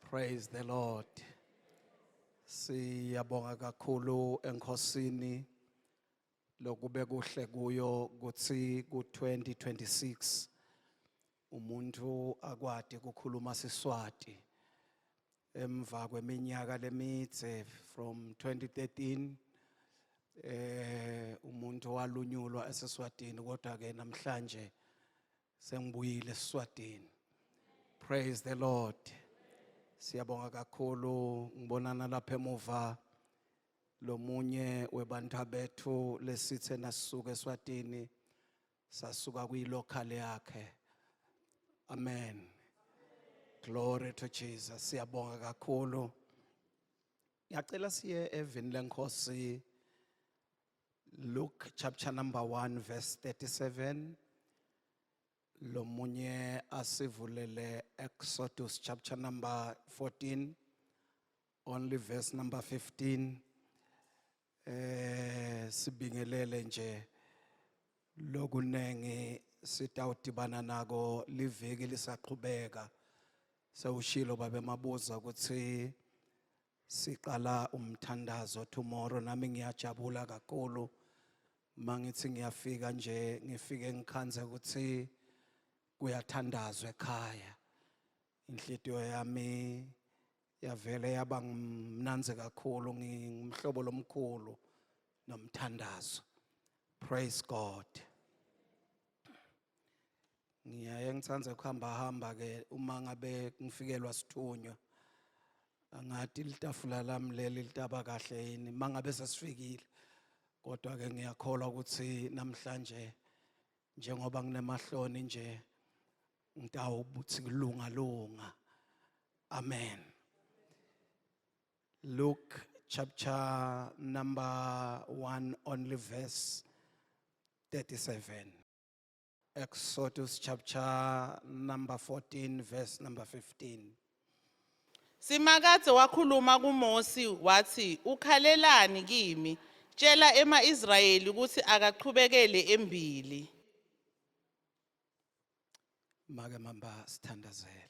Praise the Lord. Siyabonga kakhulu enkosini lokube kuhle kuyo kuthi ku-2026 umuntu akwadi kukhuluma siswati emva kweminyaka lemidze from 2013 eh umuntu walunyulwa eseswatini kodwa ke namhlanje Sengibuyile eSwatini. Praise the Lord. Siyabonga kakhulu ngibonana lapha emuva lomunye webantha bethu lesithe nasuka eSwatini sasuka kwilocal yakhe. Amen. Glory to Jesus. Siyabonga kakhulu. Ngiyacela siye evini lenkosi Luke chapter number 1 verse 37 lomunye asivulele Exodus chapter number 14 only verse number 15 eh sibingelele nje lokunengi sitawudibana nako liviki lisaqhubeka sewushilo babe mabuza ukuthi Siqala umthandazo tomorrow nami ngiyajabula kakhulu mangithi ngiyafika nje ngifike ngikhanze ukuthi kuyathandazwa ekhaya inhlitiyo yami yavele yaba ngimnanzi kakhulu ngimhlobo lomkhulu nomthandazo praise god ngiyaye ngithanda ukuhamba hamba ke uma ngabe ngifikelwa sithunywa angathi litafula lami leli litaba kahle yini mangabe sesifikile kodwa ke ngiyakholwa ukuthi namhlanje njengoba nginemahloni nje ngitawubuthi kulunga lunga amen Luke chapter number 1 only verse 37 Exodus chapter number 14, verse number 15. Simakadze wakhuluma kuMosi wathi ukhalelani kimi tshela emaIsrayeli ukuthi akaqhubekele embili Make mamba sithandazele.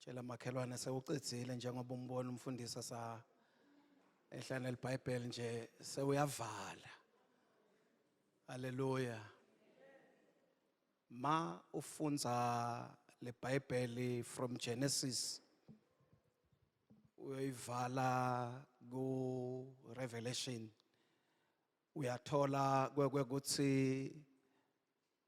Tshela makhelwane sewucedzile njengoba umbona umfundisa sa ehlane libhayibheli nje sewuyavala haleluya ma ufunza lebhayibheli from genesis uyoyivala ku revelation uyathola kwekuthi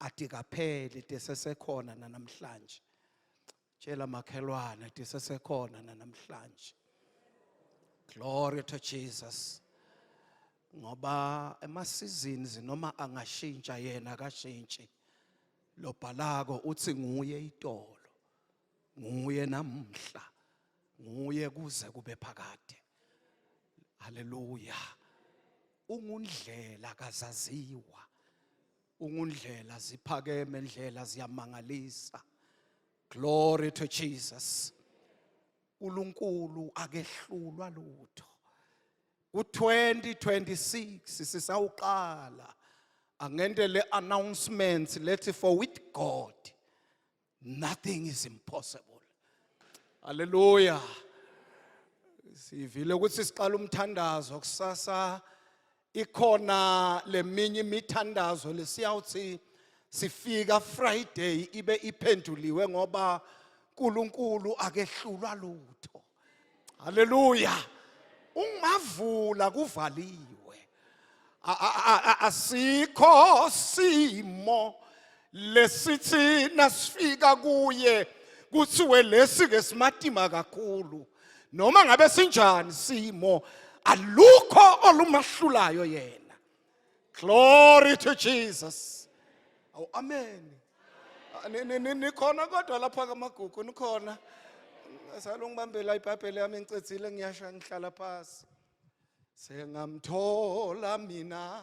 ade kaphele de sesekhona nanamhlanje tshela makhelwane de sesekhona nanamhlanje glory to jesus ngoba emasizini zinoma angashintsha yena akashintshi lobhalako uthi nguye itolo nguye namhla nguye kuze kube phakade haleluya ungundlela kazaziwa ungundlela ziphakeme ndlela ziyamangalisa glory to jesus uNkulunkulu akehlulwa lutho ku-2026 sisawuqala angende le announcements lethi for with God nothing is impossible haleluya sivile ukuthi siqala umthandazo kusasa ikhona leminye imithandazo lesiyawuthi sifika Friday ibe iphenduliwe ngoba uNkulunkulu akehlulwa lutho haleluya ungavula kuvaliwe asikho simo lesithi nasifika kuye kuthiwe lesi ke simatima kakhulu noma ngabe sinjani simo alukho olumahlulayo yena Glory to Jesus. Awu amen. Ah, ni- ni- ni- Nikhona kodwa lapha kamagugu nikhona. Salo ngibambela iBhayibheli yami ngicedzile ngiyasha ngihlala phansi. Sengamthola mina.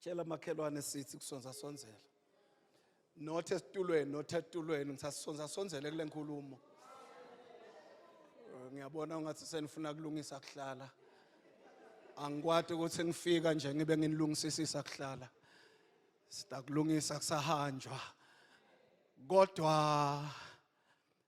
tshela makhelwane sithi kusonza sonzela not esitulweni not etulweni ngisasonza sonzele kule nkulumo eh, ngiyabona ungathi senifuna kulungisa kuhlala angikwati ukuthi ngifika nje ngibe nginilungisisisa kuhlala sitakulungisa kusahanjwa kodwa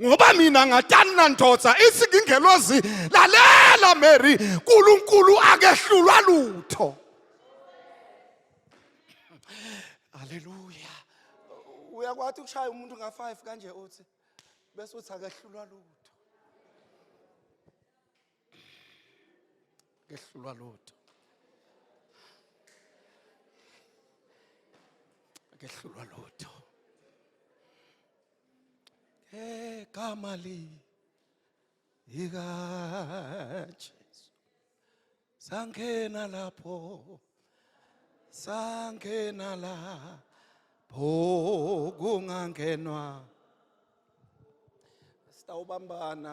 ngoba mina ngatani na ndoda ithi ngingelozi lalela mary nkulunkulu akehlulwa lutho aleluya uyakwathi ukushaya umuntu nga-five kanje uthi bese uthi akehlulwa lutho ngehlulwa lutho ngehlulwa lutho ngegama li ikajesu sangena lapho sangena lapho kungangenwa sitawubambana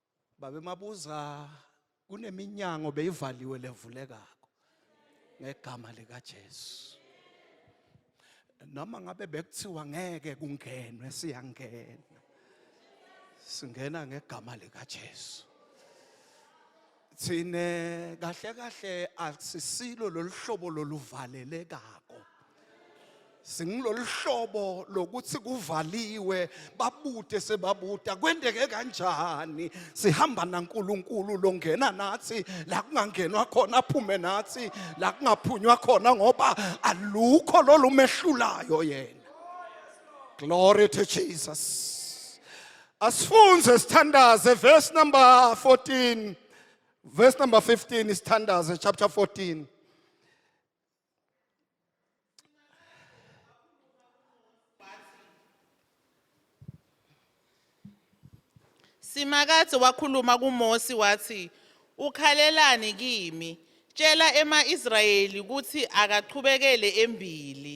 Babe mabuza kuneminyango beyivaliwe levulekako ngegama lika Jesu. Noma ngabe bekuthiwa ngeke kungenwe siyangena. Singena ngegama lika Jesu. Thine kahle kahle asisilo loluhlobo loluvalelekako. singilolu hlobo lokuthi kuvaliwe babute sebabuta kwendeke kanjani sihamba naNkulunkulu longena nathi la kungangenwa khona aphume nathi la kungaphunywa khona ngoba alukho lolu mehlulayo yena glory to Jesus asifunze sithandaze verse number 14 verse number 15 isithandaze chapter 14 Simakadze wakhuluma kuMosi wathi, "Ukhalelani kimi? Tshela ema-Israyeli ukuthi akaqhubekele embili."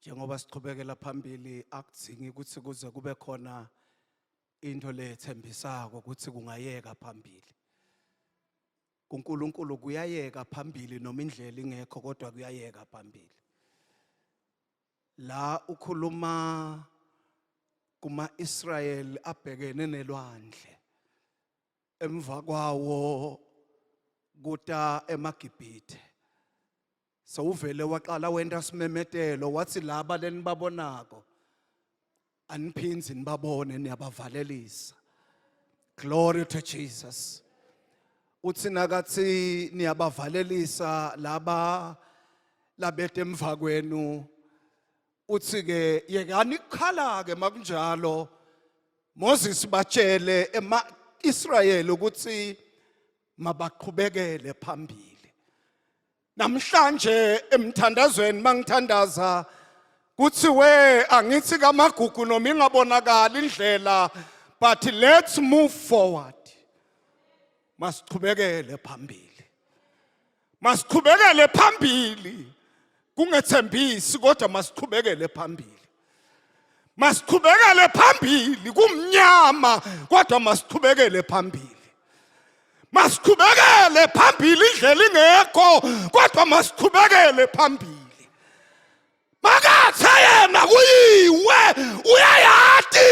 Njengoba siqhubekela phambili akudzingi ukuthi kuze kube khona into lethembisako ukuthi kungayeka phambili. KuNkulunkulu kuyayeka phambili noma indlela ingekho kodwa kuyayeka phambili. La ukhuluma kuma-Israel abhekene nelwandle emva kwawo kuta emaGibhithe sewuvele waqala wenta simemetelo wathi laba lenibabonako aniphindzi nibabone niyabavalelisa glory to jesus uthi nakathi niyabavalelisa laba labete emva kwenu uthi ke yekani kukhala ke makunjalo Moses batshele ema Israel ukuthi mabaqhubekele phambili namhlanje emthandazweni mangithandaza kuthi we angithi kamagugu noma ingabonakali indlela but let's move forward masiqhubekele phambili masiqhubekele phambili kungethembisi kodwa masiqhubekele phambili masiqhubekele phambili kumnyama kodwa masiqhubekele phambili masiqhubekele phambili indlela ingekho kodwa masiqhubekele phambili makathe yena kuyiwe uyayati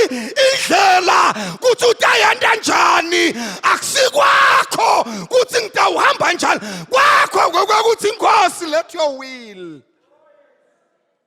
indlela ukuthi utayenda njani akusikwakho ukuthi ngitawuhamba njani kwakho ngokuthi inkosi let your will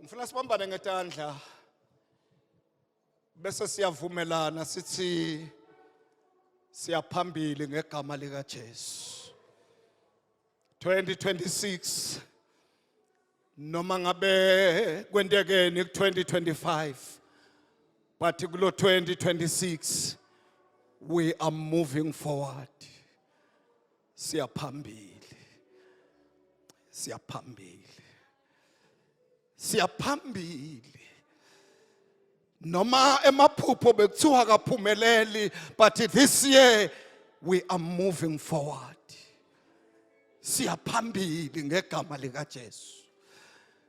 Ngifuna sibambane ngetandla bese siyavumelana sithi siyaphambili ngegama lika Jesu 2026 noma ngabe kwentekeni ku 2025 but kulo 2026 we are moving forward siyaphambili siyaphambili siyaphambili noma emaphupho bekuthiwa kaphumeleli but this year we are moving forward siyaphambili ngegama likaJesu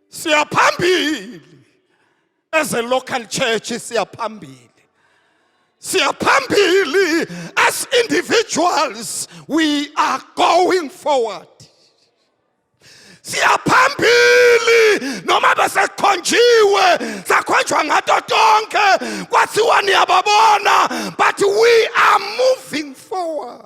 siyaphambili as a local church siyaphambili siyaphambili as individuals we are going forward siyaphambili noma besekhonjiwe sakhonjwa ngato tonke kwathiwa niyababona but we are moving forward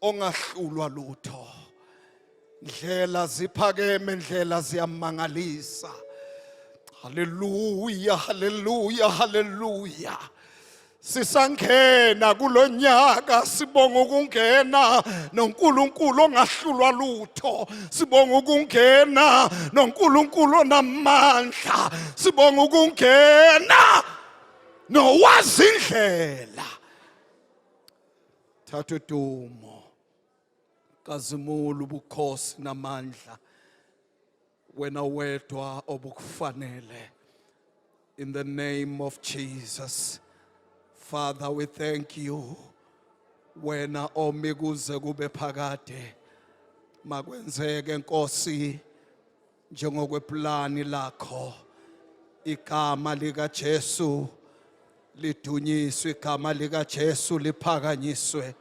ongahlulwa lutho ndlela ziphakeme ndlela ziyamangalisa haleluya haleluya haleluya sisangena kulonyaka sibonga ukungena noNkulunkulu ongahlulwa lutho sibonga ukungena noNkulunkulu onamandla sibonga ukungena nowazi indlela thatha udumo kazimula ubukhosi namandla wena wedwa obukufanele in the name of Jesus father we thank you wena omi kuze kube phakade makwenzeke nkosi njengokweplani lakho igama likaJesu lidunyiswe igama likaJesu liphakanyiswe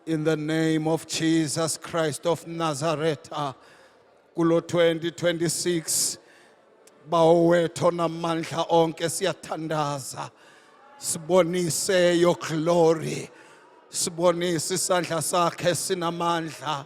in the name of Jesus Christ of Nazareth kulo 2026 bawetho namandla onke siyathandaza sibonise your glory sibonise isandla sakhe sinamandla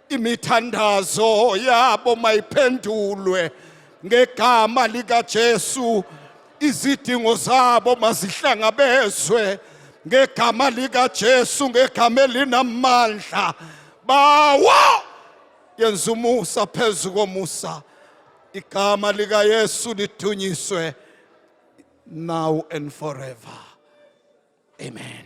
imithandazo yabo mayiphendulwe ngegama likaJesu izidingo zabo mazihlangabezwe ngegama likaJesu ngegama elinamandla bawo yenza umusa phezu komusa igama likaYesu lidunyiswe now and forever amen